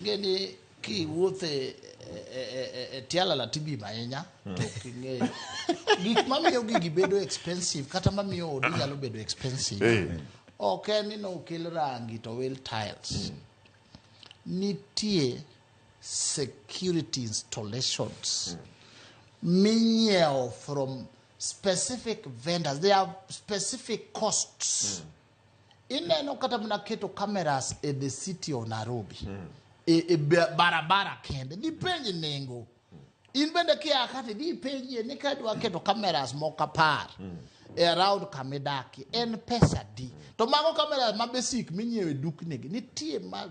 Ngeni kiwuothe e tialala tibim ahinya to ok ing'eyo gik mamiyo gigi bedo expensive kata mamiyo odi nyalo bedo expensive ok en ni nokel rangi to wel tiles nitie security installations minyiewo from specific vendors they have specific costs mm. ineno kata mana keto cameras e the city of nairobi mm. e, e barabara kende dhi penji nengo mm. in bende kia kati dhi penjie ni ka dwa keto cameras moko apar mm. e around kama idakie en pesa di to mago cameras ma basic minyiewo e duknigi nitie ma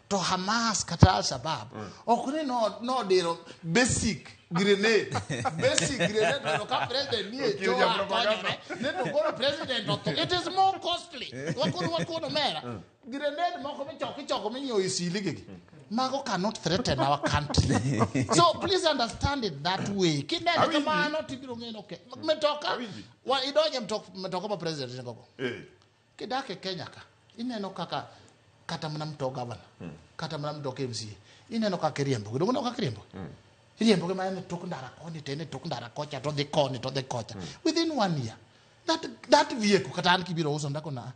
to Hamas kata Al Shabaab ok ni no- nodiro basic grenade basic grenade mondo ka president nie Okil choa japropaganda. konyore ne to koro president otho it is more costly wakuru wakuru mera grenade moko michoko ichoko minyiewo e siligegi mago cannot threaten our country so please understand it that way kineno Awinji. kamano tibiro ng'eyo ke metoka Awinji. wa- idonje mtok- metoka ma president nigogo Eh. Kidak e Kenya ka, ineno kaka kata mana mto gavana, hmm. kata mana mto KMCA, ineno kaka iriembo, gidongo no kaka iriembo. Hmm. Iriembo kama en tok ndara koni, tene tok ndara kocha, to dhi koni, to dhi kocha. Hmm. Within one year, that, that vehicle, kata an kibiro uso ndako na,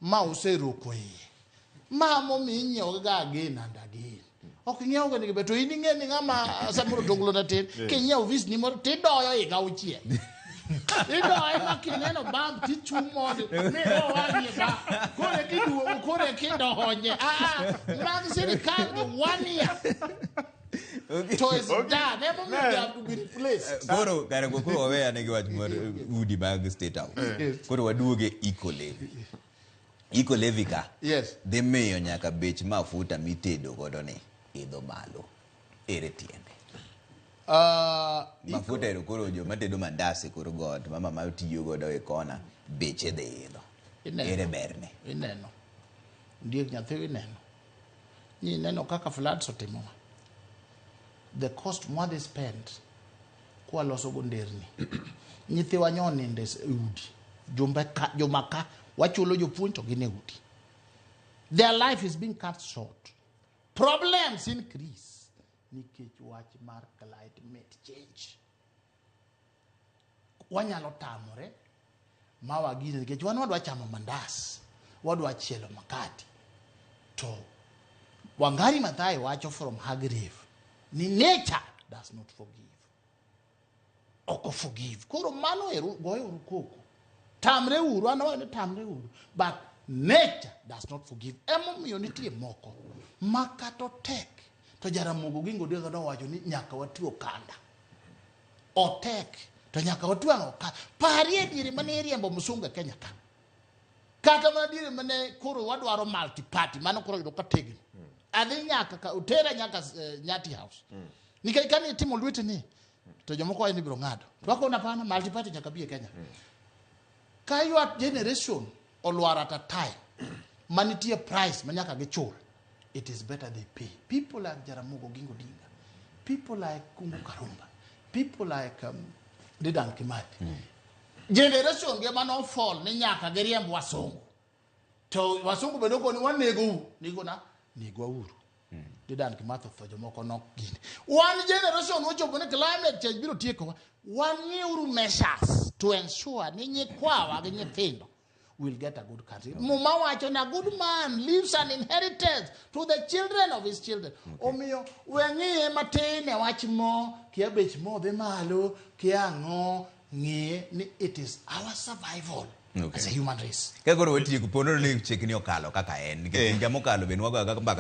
ma useroko iye. Ma momi inyiewo ga again and again. ok ing'iewo gini gibe to in ing'e ni ng'ama samoro tonglo na tin king'iewo vis ni moro tidoyo higa auchiel idoye ma kineno bam tichung' mondo mido wang'e ba koro eka iduogo koro eka idonye aa mag sirikal gi one year to is done emomiyo they have to be replaced koro kare go koro waweya ne gi wach mar udi mag state house koro waduoge eco levy Iko Levi ka. Yes. Dhi miyo nyaka bech mafuta mitedo godo ni idho malo. Ere tiende. Uh, mafuta ero koro jo matedo mandasi koro god mama ma tiyo godo e kona beche dhi idho. Ere berne. Ineno. Ndiek nyathi ineno. Nineno kaka floods otimowa. The cost mwadhi spend kwaloso go nderni. Nyithiwa nyo ninde e udi. Jumbe ka, juma ka, wachulo jopuonj to gin e udi. Their life is being cut short. Problems increase nikech wach mar climate change. wanyalo tamore ma wagine nikech wan wadwa chamo mandas wadwa chielo makati to wangari mathae wacho from hagrave ni nature does not forgive oko forgive koro mano ero goyo uru koko tamre uru an awacho ni tamre uru but nature does not forgive emomiyo nitie moko ma kata otek to jaramogo gi ngodi owacho ni nyaka wati okanda Otek to nyaka otwang' oka. Parie diere mane iriembo msunga Kenya ka. Kata mana diere mane koro wadwaro multi party mano koro yudo ka tegno. Adhi nyaka ka otera nyaka eh, Nyati House. Nikech kani itimo lwete ni to jomoko wacho ni ibiro ng'ado. To akona pana multi party nyaka bi e Kenya. Ka your generation olwar at a time ma nitie price ma nyaka gichul it is better they pay people like jaramogo gingo dinga people like kungu karumba people like um, dedan kimathi mm. generation ge mano fall ni nyaka giriemb wasungu to wasungu bedo koni wanego u nigona negwa uru Jordan kimatho tho jomoko nok gini. One generation ochopo ni climate change biro tiekowa. Wang'euru measures to ensure ni nyikwawa gi nyithindo will get a good country. Muma wacho ni a good man leaves an inheritance to the children of his children. Omiyo weng'iye matin e wach mo, kia bech mo dhi malo, kia ang'o, ng'e ni it is our survival Okay. as a human race. Ka koro watieko pono ni chekni okalo kaka en nikech Eh. higa mokalo be nwagoya kaka mbaka